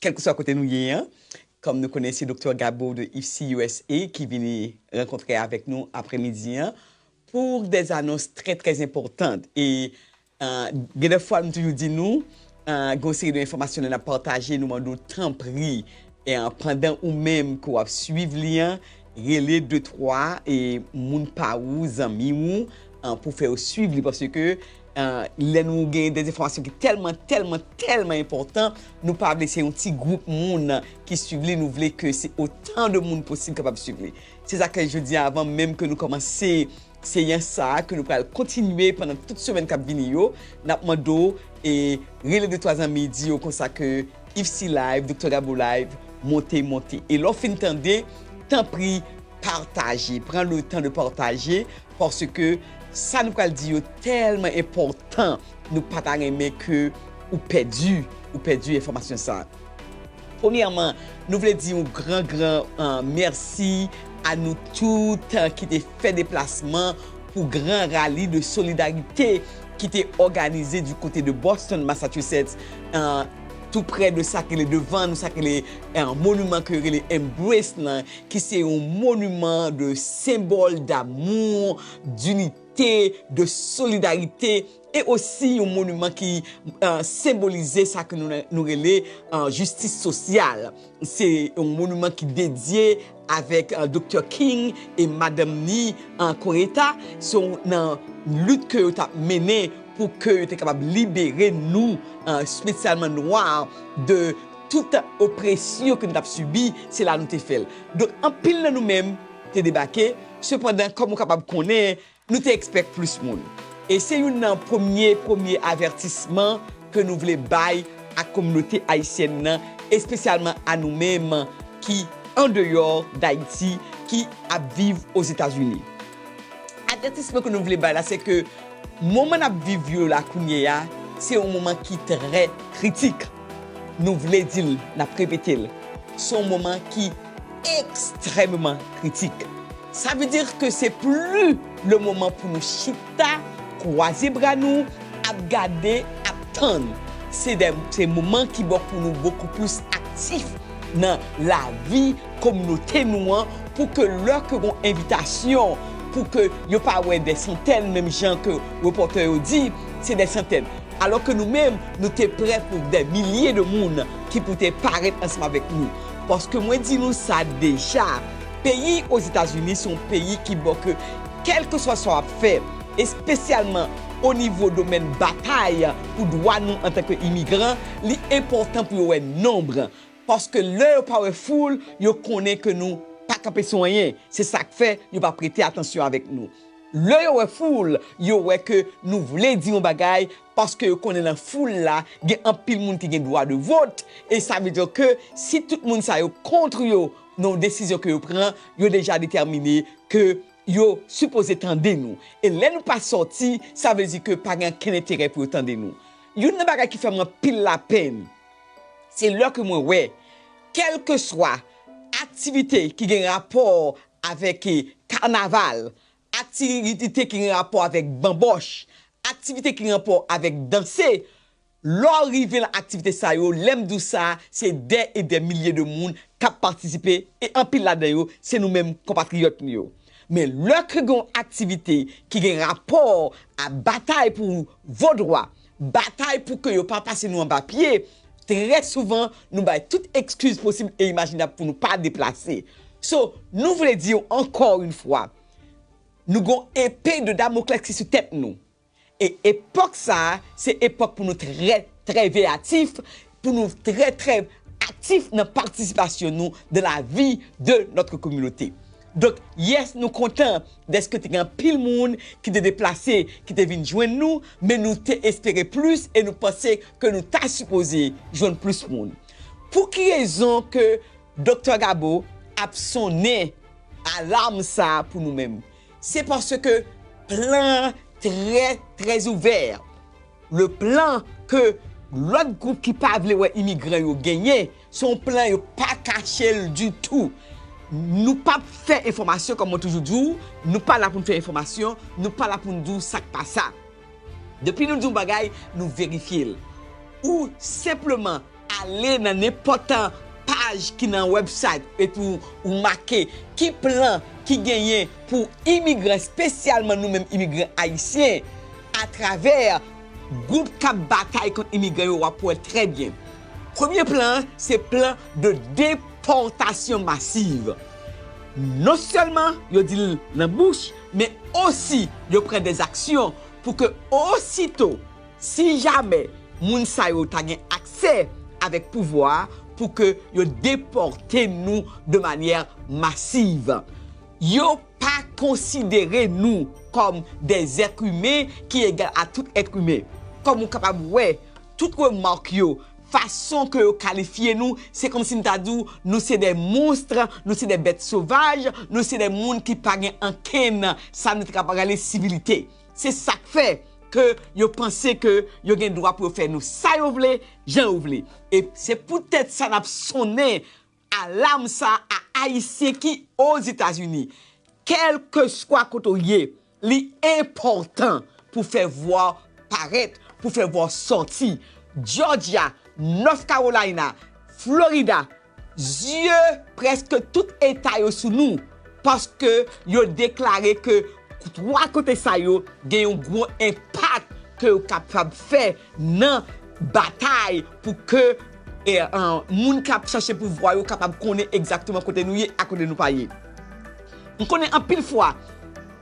Kèlkeswa kote nou ye an, kòm nou konnen se Doktè Gabo de IFSI usa ki vini rankontre avèk nou apremidi an pou des annonces très très importantes e gen de fwa m toujou di nou gen yon seri de enfòmasyon lè n ap pataje nou mande w tanpri pandan ou menm ke w ap swiv li an Rele de twa moun pa ou, zanmi ou, pou w fè yo suiv li. Paske lè nou gen de enfòmasyon ki tèlman, tèlman, tèlman enpòtan, nou pa vle se yon ti gwoup moun ki suiv li. Nou vle ke se otan de moun posib kapab suiv li. Se sa k fè jodi a, avan menm ke nou kòmanse Seyans sa a ke nou pral kontinye pandan tout semèn kap vini yo, nap mande w e rele de twa zanmi di yo konsa ke Yvesy Live, Doktè Gabo Live monte monte. E lè w fin tande, tanpri pataje, pran le tan de pataje paske sa nou pral di yo tèlman enpòtan nou pa ta renmen ke ou pèdi, ou pèdi enfòmasyon sa. Premyèman, nou vle di yon gran gran mèsi a nou tout ki te fè deplasman pou gran rali de solidarite ki te òganize di kote de Boston, Massachusetts, tou prè de sa ki rele devan nou, sa ki rele moniman ke yo rele Embrace lan, ki se yon moniman de senbòl damou, dinite, de solidarite. E osi yon moniman ki senbolize sa ke nou rele jistis sosyal. Se yon moniman ki dedye avèk Doktè King e madanm ni Coretta. Se yon nan lit ke yo tap mennen pou ke yo te kapab libere nou, spesyalman nwa, de tout opresyon ke nou tap sibi. Se la nou te fèl. Donk anpil nan nou menm te debake. Sepandan, kòm ou kapab konnen, Nou te ekspèk plis moun. E se youn nan premye premye avètisman ke nou vle bay a kominote ayisyèn nan, espesyalman a nou menm ki andeyò Dayiti, ki ap viv Ozetazini. Avètisman ke nou vle bay la se ke moman nap viv yo la kounye a, se yon moman ki trè kritik. Nou vle di l, nap repete l, se yon moman ki. extrèmeman kritik. Sa vle di ke se pli le moman pou nou chita, kwaze bra nou, ap gade, ap tann. Se dè, se moman ki bon pou nou bokou plis aktif nan lavi kominote nou an pou ke lè ke gon envitasyon pou ke yo pa wè dè santèn menm jan ke repòtè yo di se dè santèn alò ke nou menm nou te prè pou dè milye de moun ki pou te parèt ansanm avèk nou. Paske mwen di nou sa deja, peyi Ozetazini se yon peyi ki bon ke kèlkeswa sa w ap fè, espesyalman o nivo domèn batay pou dwa nou antanke imigran, li enpòtan pou yo wè nonb. Paske lè yo pa wè foul, yo konnen ke nou pa kanpe sou anyen. Se sa k fè yo pa prete atansyon avèk nou. Lè yo wè foul, yo wè ke nou vle di yon bagay paske yo konnen lan foul la gen anpil moun ki gen dwa de vot e sa vle di ke si tout moun sa yo kontr yo nan yon desizyon ke yo pran, yo deja detèmine ke yo sipoze tande nou. E lè nou pa sòti, sa vle di ke pa gen ankenn enterè pou yo tande nou. Youn nan bagay ki fè mwen anpil lapenn, se lè ke mwen wè kèlkeswa aktivite ki gen rapò avèk kanaval, Aktivite ki gen rapò avèk banbòch, aktivite ki gen rapò avèk danse, lè w rive lan aktivite sa yo, lè m di w sa, se dè e dè milye de moun k ap patisipe e anpil ladan yo se nou menm konpatriyòt nou yo. Men lè ke gen yon aktivite ki gen rapò a batay pou vodwa, Batay pou ke yo pa pase nou anba pye, trè souvan nou bay tout ekskiz posib e imajinab pou nou pa deplase. So, nou vle di yo ankò yon fwa, nou gon epe de Damoklès ki sou tèt nou. E epòk sa a, se epòk pou nou trè, trè veyatif, pou nou trè trè aktif nan patisipasyon nou dan la vi de notre kominote. Donk yes nou kontan deske te gen anpil moun ki te deplase ki te vin jwenn nou men nou te espere plis e nou panse ke nou ta sipoze jwenn plis moun. Pou ki rezon ke Doktè Gabo ap sonnen alam sa pou nou menm? Se paske plan an trè trè ouvè. Le plan ke lòt gwoup ki pa vle wè imigran yo genyen, se yon plan yo pa kache l ditou. Nou pap fè enfòmasyon, kòm mwen toujou di w, nou pa la pou n fè enfòmasyon, nou pa la pou n di w sa k pa sa. Depi nou di yon bagay, nou verifye l. Ou senpleman. Ale nan nenpòt paj ki nan wèbsayt epi ou make ki plan ki genyen pou imigran, espesyalman nou menm imigran ayisyen, atravè gwoup k ap batay kont imigran yo, w ap wè trè byen. Premye plan an se plan de depòtasyon masiv. Non sèlman yo di l nan bouch, men osi yo pran dèzaksyon pou ke osito. Si jamè moun sa yo ta gen aksè avèk pouvwa pou ke yo depòte nou de manyè masiv. Yo pa konsidere nou kòm de zèt imen ki egal a tout èt imen. Kòm ou kapab wè, tout remak yo, fason ke yo kalifye nou, se kòm si m ta di w nou se de monstre, nou se de bèt sovaj, nou se de moun ki pa gen ankenn sa nou te kapab rele sivilite. Se sak fè ke yo panse ke yo gen dwa pou yo fè nou sa yo vle, jan yo vle. E se pou tèt sa nap sonnen alam sa a Ayisyen ki Ozetazini. Kèlkeswa kote w ye, li enpòtan pou fè vwa w parèt, pou fè vwa w sòti. Jòjya, Nòt Kawolayna, Florida, Zye prèske tout eta yo sou nou paske yo deklare ke 3 kote sa yo gen yon gwo enpak ke yo kapab fè nan batay pou ke moun k ap chache pouvwa yo kapab konnen egzakteman kote nou ye ak kote nou pa ye. M konnen anpil fwa.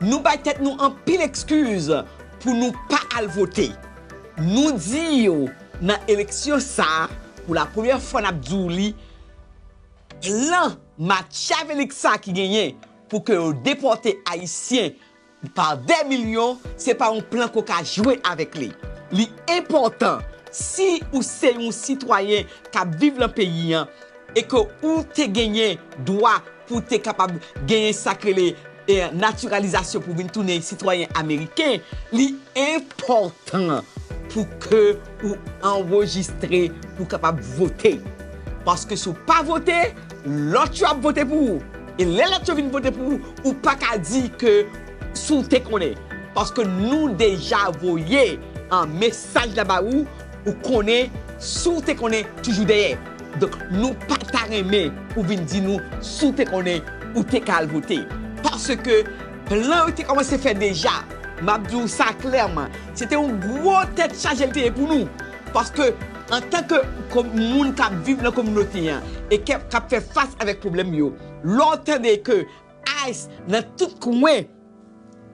Nou bay tèt nou anpil ekskiz pou nou pa al vote. Nou di yo nan eleksyon sa a, pou la premyè fwa n ap di w li, plan matyavelik sa a ki genyen pou ke yo depòte Ayisyen pa dè milyon, se pa yon plan ke w ka jwe avèk li. Li enpòtan, si ou se yon sitwayen k ap viv lan peyi an e ke ou te genyen dwa pou w te kapab genyen sa k rele, Natiralizasyon pou vin tounen sitwayen ameriken, li enpòtan pou ke ou anrejistre pou w kapab vote. Paske si w pa vote, lòt yo ap vote pou ou. E lè lòt yo vin vote pou ou, ou pa ka di ke si w te konnen. Paske nou deja voye mesaj la ba ou. Ou konnen si w te konnen toujou dèyè. Donk nou pa ta renmen ou vin di nou si w te konnen ou te ka al vote. Paske plan yo te kòmanse fè deja. M ap di w sa klèman, se te yon gwo tèt chaje l te ye pou nou. Paske antan ke moun k ap viv nan kominote an e k ap fè fas avèk pwoblèm yo, lè w tande ke ice nan tout kwen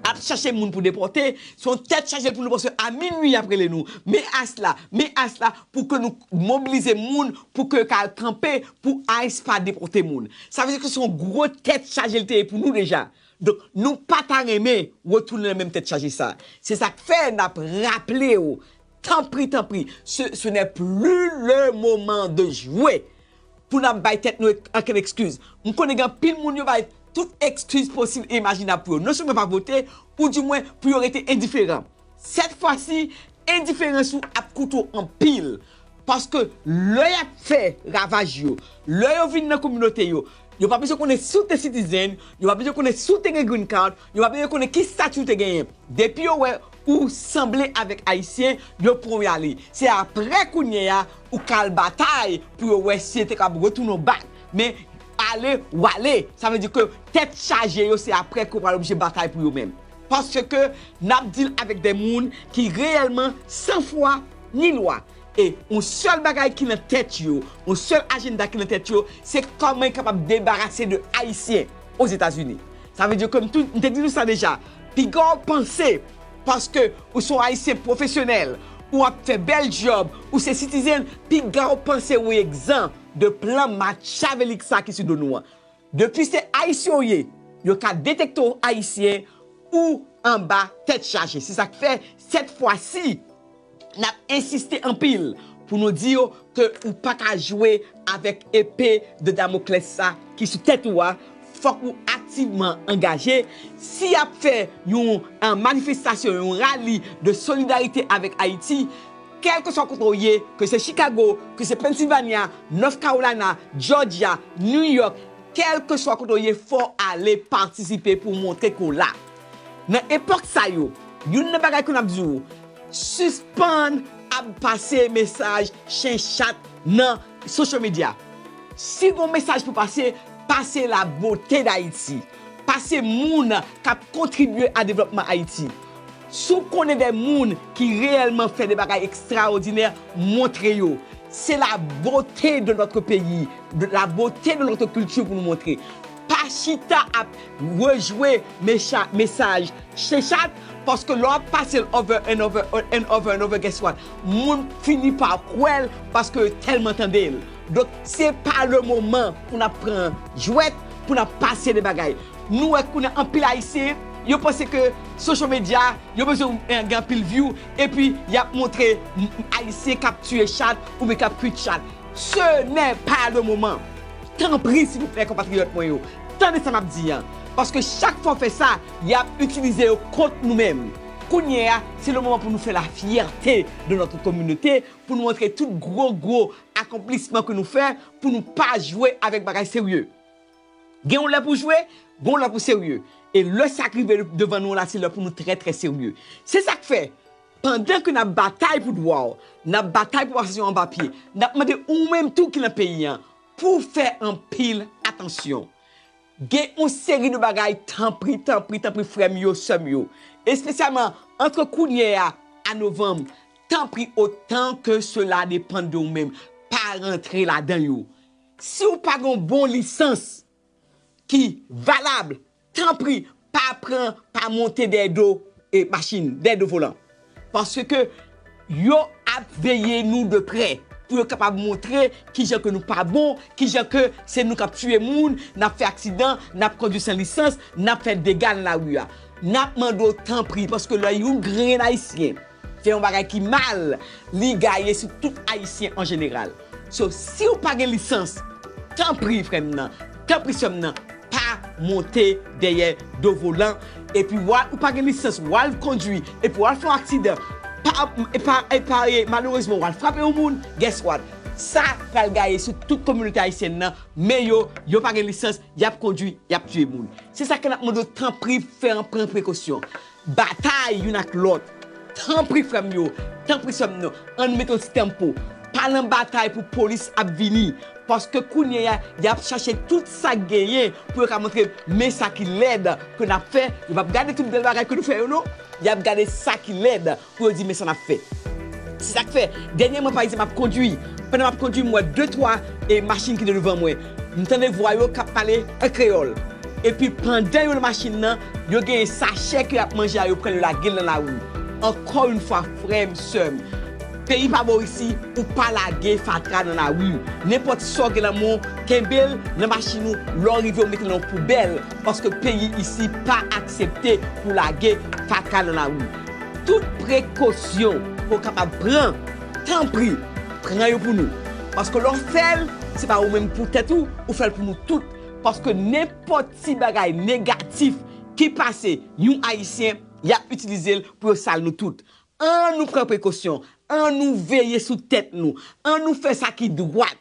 ap chache moun pou depòte, se yon tèt chaje pou nou panse a minwi y ap rele nou, men ice la, men ice la, pou ke nou mobilize moun pou ke yo ka al kanpe pou ice pa depòte moun. Sa vle di ke se yon gwo tèt chaje li te ye pou nou deja. Donk, nou pa ta renmen retounen nan menm tèt chaje sa. Se sa k fè n ap raple ou, tanpri, tanpri, se, ce n'est plus le moment de jouer! Pou nap bay tèt nou ankenn ekskiz. M konnen gen anpil moun yo bay tout ekskiz posib e imajinab pou yo non sèlman pa vote, ou di mwen pou yo rete endiferan. Sèt fwasi, endiferans ou ap koute w anpil. Paske lè yap fè ravaj yo, lè yo vin nan kominote yo, yo pa bezwen konnen si w te citizen, yo pa bezwen konnen si w te gen green card, yo pa bezwen konnen ki stati w te genyen. Depi yo wè. Ou sanble avèk ayisyen yo pran w yale se aprè kounyea ou ka al batay pou yo wè si yo te kapab retounen w bak men ale w ale sa vle di ke tèt chaje yo se aprè ke w pral oblije batay pou yo menm paske nap deal avèk de moun ki reyèlman san fwa ni lwa e yon sèl bagay ki nan tèt yo yon sèl ajenda ki nan tèt yo se kòman yo kapab debarase de ayisyen ozetazini sa vle di ke m te di nou sa deja. Piga w panse paske ou son ayisyen pwofesyonèl ou ap fè bèl djòb ou se sitizen piga w panse ou egzan de plan matchavelik sa ki sou do nou an. Depi se ayisyen w ye yo ka detekte w ayisyen ou anba tèt chaje se sak fè sèt fwa si Nap ensiste anpil pou nou di yo ke ou pa ka jwe avèk epe de Damoclès sa ki sou tèt ou a, fòk ou aktivman angaje, si yap fè yon manifestasyon, yon rali de solidarite avèk Ayiti, kèlkeswa kote ou ye, ke se Chicago, ke se Pennsylvania, North Carolina, Georgia, New York, kèlkeswa kote ou ye fò ale patisipe pou montre ke w la. Nan epòk sa yo, youn nan bagay ke m ap di ou, sispann ap pase mesaj chen chat nan social media. Si gon mesaj pou pase, pase la beauté d'Haïti. Pase moun k ap kontribye a devlòpman Ayiti. Si w konnen de moun ki reyèlman fè de bagay ekstraòdinè, montre yo. Se la beauté de notre pays, la beauté de notre culture pou nou montre. Pa chita ap rejwe mesaj chechat paske lè w ap pase l over and over and over and over guess what moun fini pa kwè l paske yo tèlman tande l donk se pa le moman pou n ap pran jwèt pou n ap pase de bagay nou wè kounye a anpil ayisyen yo panse ke social media yo bezwen gen anpil view epi y ap montre ayisyen k ap tiye chat oubyen k ap kwit chat. Ce n'est pas le moment! Tanpri silvouplè konpatriyòt mwen yo, tande sa map di an, paske chak fwa w fè sa, yap itilize yo kont nou menm. Kounye a, se le moman pou nou fè la fyète de notre communauté, pou nou montre tout gwo gwo akonplisman ke nou fè, pou nou pa jwe avèk bagay serye. Gen yon lè pou jwe, gen yon lè pou serye. E lè sa k rive devan nou an la, se lè pou nou trè trè serye. Se sa k fè! Pandan ke nap batay pou dwa w, nap batay pou asasyon anba pye, nap mande ou menm tou ki nan peyi an pou w fè anpil atansyon. Gen yon seri de bagay tanpri, tanpri, tanpri frè m yo, sè m yo, espesyalman antre kounyè a a novanm, tanpri otan ke sela depann de ou menm, pa rantre ladan yo. Si w pa gen yon bon lisans ki valab Tanpri pa pran pa monte dèyè do machin, dèyè do volan. Paske yo ap veye nou de prè pou yo kapab montre kijan ke nou pa bon, kijan ke se nou k ap tiye moun, n ap fè aksidan, n ap kondwi san lisans, n ap fè dega nan lari a. N ap mande w tanpri paske lè yon grenn ayisyen Fè yon bagay ki mal, li gaye sou tout ayisyen an jeneral. So, siw pa gen lisans, tanpri frè m nan, tanpri sè m nan, pa monte dèyè do volan, epi wa, ou pa gen lisans, wal kondwi, epi wal fè yon aksidan, pa, pa, pa, malerezman wal frape yon moun, guess what? Sa pral gaye sou tout kominote ayisyèn nan, men yo, yo pa gen lisans, yap kondwi, yap tiye moun. Se sa ke nap mande w tanpri fè an pran prekosyon. batay youn ak lòt. Tanpri frè m yo, tanpri sè m yo, ann mete yon ti tanmpo. Pa nan batay pou polis ap vini. Paske kounye a, y ap chache tout sa k genyen pou yo ka montre men sa ki lèd ke n ap fè. Yo p ap gade tout bèl bagay ke nou fè yo non. Y ap gade sa ki lèd. pou yo di men sa n ap fè. Se sa k fè, dènyèman pa egzanp m ap kondui, pandan m ap kondui m wè de twa machin ki te douvan mwen, m tande vwa yo k ap pale an kreyòl. Epi pandan yo nan machin nan, yo genyen sachè ke y ap manje a yo pran yo lage l nan lari. Ankò yon fwa frè m, sè m, peyi pa bo isi ou pa lage fatra nan lari. Nenpòt sa w gen nan men w, kenbe l nan machin ou, lè w rive w mete l nan yon poubèl, paske peyi isi pa aksepte pou w lage fatra nan lari. Tout prekosyon ke w kapab pran, tanpri pran yo pou nou. Paske lè w fè l, se pa ou menm pou tèt ou, ou fè l pou nou tout. Paske nenpòt ti bagay negatif ki pase yon Ayisyen, y ap itilize l pou yo sal nou tout. An nou pran prekosyon, an nou veye sou tèt nou, an nou fè sa ki dwat.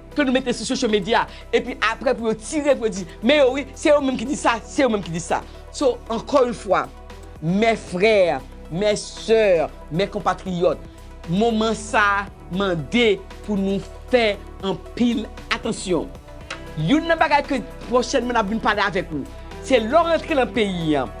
ke nou mete sou social media epi aprè pou yo tire pou yo di men yo wi se yo menm ki di sa se yo menm ki di sa so ankò yon fwa mè frè mè sè mè konpatriyòt moman sa mande pou nou fè anpil atansyon youn nan bagay ke pwochènman nap vin pale avèk ou se lè w antre nan peyi an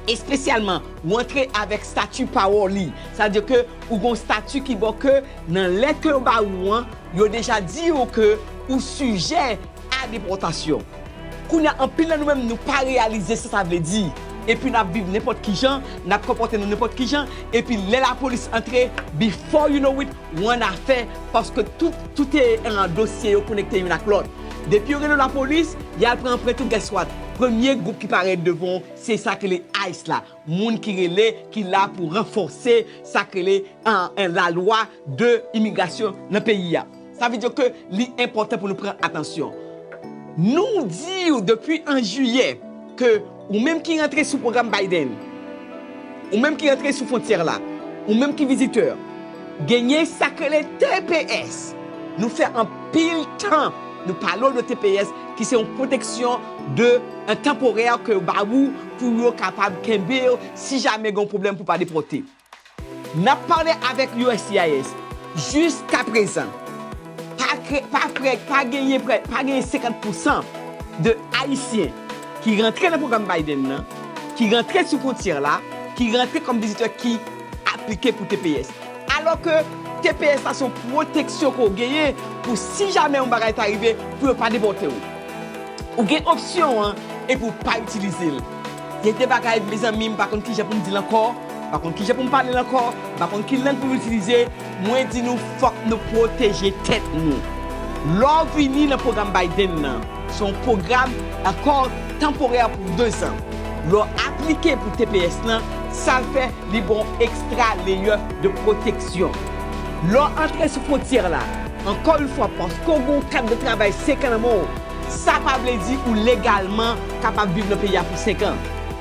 espesyalman ou antre avèk stati pa w li sa vle di ke ou gon stati ki ba w ke nan lèt ke yo ba ou an. Yo deja di ou ke ou sijè a depòtasyon. Kounye a anpil nan nou menm nou pa reyalize sa sa vle di. Epi n ap viv nenpòt kijan, n ap konpòte nou nenpòt kijan, epi lè lapolis antre, before you know it, ou an afè paske tout, tout e, dosye yo konekte youn ak lòt. Depi yo rele w lapolis, y al pran anprent ou, guess what? Premye gwoup ki parèt devan w se sa ki rele ice la. Moun ki rele ki la pou ranfòse sak rele la lwa de imigrasyon nan peyi a. Sa vle di ke li enpòtan pou nou pran atansyon. Nou di ou depi an jiyè ke ou menm ki rantre sou pwogram Biden, ou menm ki rantre sou fwontyè la, ou menm ki vizitè, genyen sak rele tps. Nou fè anpil tan nou pale ou de tps ki se yon pwoteksyon de tanporè ke yo ba ou. pou yo kapab kenbe yo si jamè gen yon pwoblèm pou pa depòte. N ap pale avèk uscis. Jiskaprezan, pa kre, pa prè, pa genyen prè, pa genyen 50 pousan de Ayisyen ki rantre nan pwogram Biden nan, ki rantre sou fwontyè la, ki rantre kòm vizitè ki aplike pou tps. Alò ke tps la se yon pwoteksyon ke w genyen pou si jamè yon bagay ta rive, pou yo pa depòte w. Ou gen opsyon an epi ou pa itilize l. Gen de bagay mezanmi m pa konn kijan pou m di l ankò, m pa konn kijan pou m pale l ankò, m pa konn ki lang pou m itilize, mwen di nou fòk nou pwoteje tèt nou. Lè w vini nan pwogram Biden nan, se yon pwogram akò tanporè pou dezan. Lè w aplike pou tps lan, sa l fè li ba w ekstra leyè de pwoteksyon. Lè w antre sou fwontyè la, Ankò yon fwa paske w gen yon kat de travay senkan nan men w, sa pa vle di ou legalman kapab viv nan peyi a pou senkan.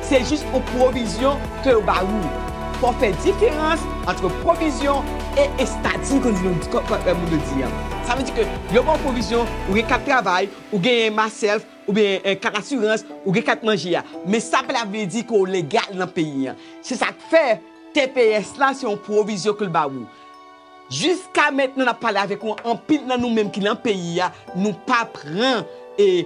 Se jis yon pwovizyon ke yo ba ou. Fò w fè diferans antre pwovizyon e estati kon di nou kon moun yo di an. Sa vle di ke yo ba w pwovizyon, ou gen kat travay, ou genyen MassHealth oubyen kat asirans, ou gen kat manje a. Men sa pa vle di ke w legal nan peyi an. Se sa k fè tps la se yon pwovizyon ke l ba ou. Jiska mentnan nap pale avek ou anpil nan nou menm ki nan peyi a nou pa pran e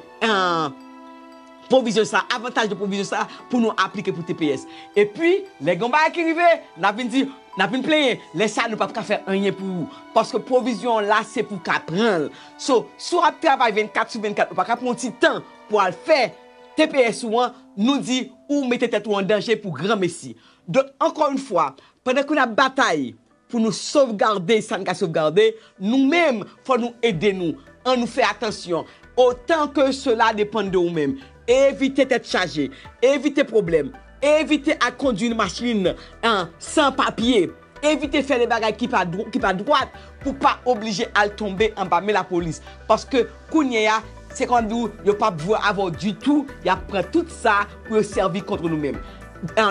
pwovizyon sa avantaj de pwovizyon sa pou nou aplike pou tps epi lè gen yon bagay ki rive nap vin di nap vin plenyen lè sa nou pap ka fè anyen pou ou paske pwovizyon an la se pou ka pranl so si w ap travay 24 sou 24 ou pa ka pran yon ti tan pou al fè tps ou an nou di ou mete tèt ou an danje pou gran mesi donk ankò yon fwa pandan ke nap batay Pou nou sovgarde sa n ka sovgarde, nou menm, fò nou ede nou. An nou fè atansyon, otan ke sela depann de ou menm. Evite tèt chaje. Evite pwoblèm. Evite al kondwi machin an san papye. Evite fè de bagay ki pa dwat pou pa oblije al tonbe anba men lapolis. Paske Kounye a, se kòm di w yo pap jwe avè w ditou, y ap pran tout sa pou yo sèvi kont ou nou menm.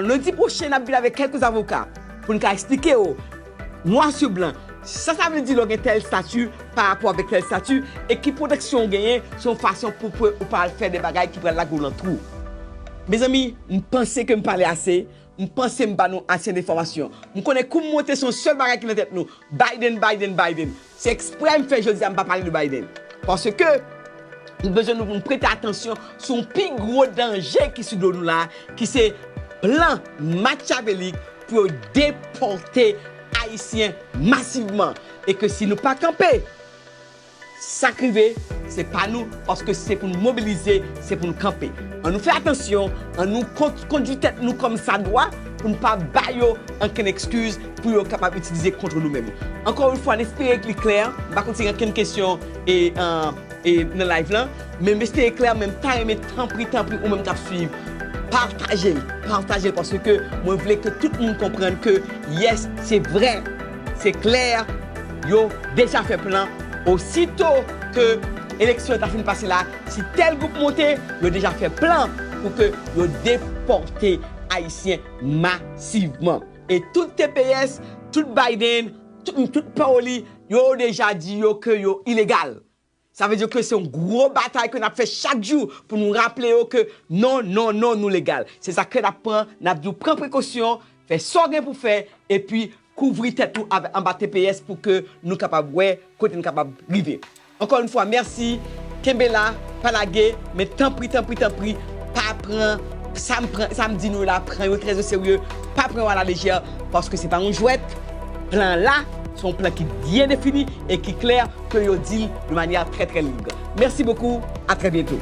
Lendi pwochen n ap vin avèk kèlke avoka pou n ka esplike w nwa sou blan sa sa vle di lè w gen tèl estati parapò avèk tèl estati e ki pwoteksyon ou genyen sou yon fason pou ke ou pa al fè de bagay ki pral lage w nan twou. Mezanmi, m panse ke m pale ase, m panse m ba nou ase de enfòmasyon. M konnen kou m monte se yon sèl bagay ki nan tèt nou, Biden, Biden, Biden. Se eksprè m fè jodi a m pa pale de Biden, paske m bezwen nou pou nou prete atansyon sou yon pi gwo danje ki sou do nou la, ki se plan makyavelik pou yo depòte Ayisyen masivman. E ke si nou pa kanpe, sa k rive, se pa nou, paske si se pou nou mobilize, se pou nou kanpe. An nou fè atansyon, an nou kondui tèt nou kòm sa dwa, pou nou pa ba yo ankenn ekskiz, pou yo kapab itilize kontre nou menm. Ankò yon fwa n espere li klè, m pa konn si gen ankenn kesyon nan live lan, men m espere klè, men m ta renmen tanpri tanpri ou menm k ap suiv, pataje l, pataje l paske mwen vle ke tout moun konprann ke yes se vrè, se klè yo deja fè plan osito ke eleksyon an ta fin pase la, si tèl gwoup monte, yo deja fè plan pou ke yo depòte ayisyen masivman. E tout tps, tout Biden, tout tout pawoli, yo deja di yo ke yo ilegal. Sa vle di ke se yon gwo batay ke nap fè chak jou pou nou raple yo ke non, non, non nou legal. Se sa ke nap pran, nap di w pran prekosyon, fè sa w gen pou fè, epi kouvri tèt ou anba tps pou ke nou kapab wè kote nou kapab rive. Ankò yn fwa merci kenbe la pa lage men tanpri tanpri tanpri pa pran sam pran sam di nou yo la pran yo trè oserye pa pran yo a la lejè paske se pa yon jwèt plan la se yon plan ki byen defini e ki klè ke yo dil de manyè trè trè lig merci beaucoup a trè byento.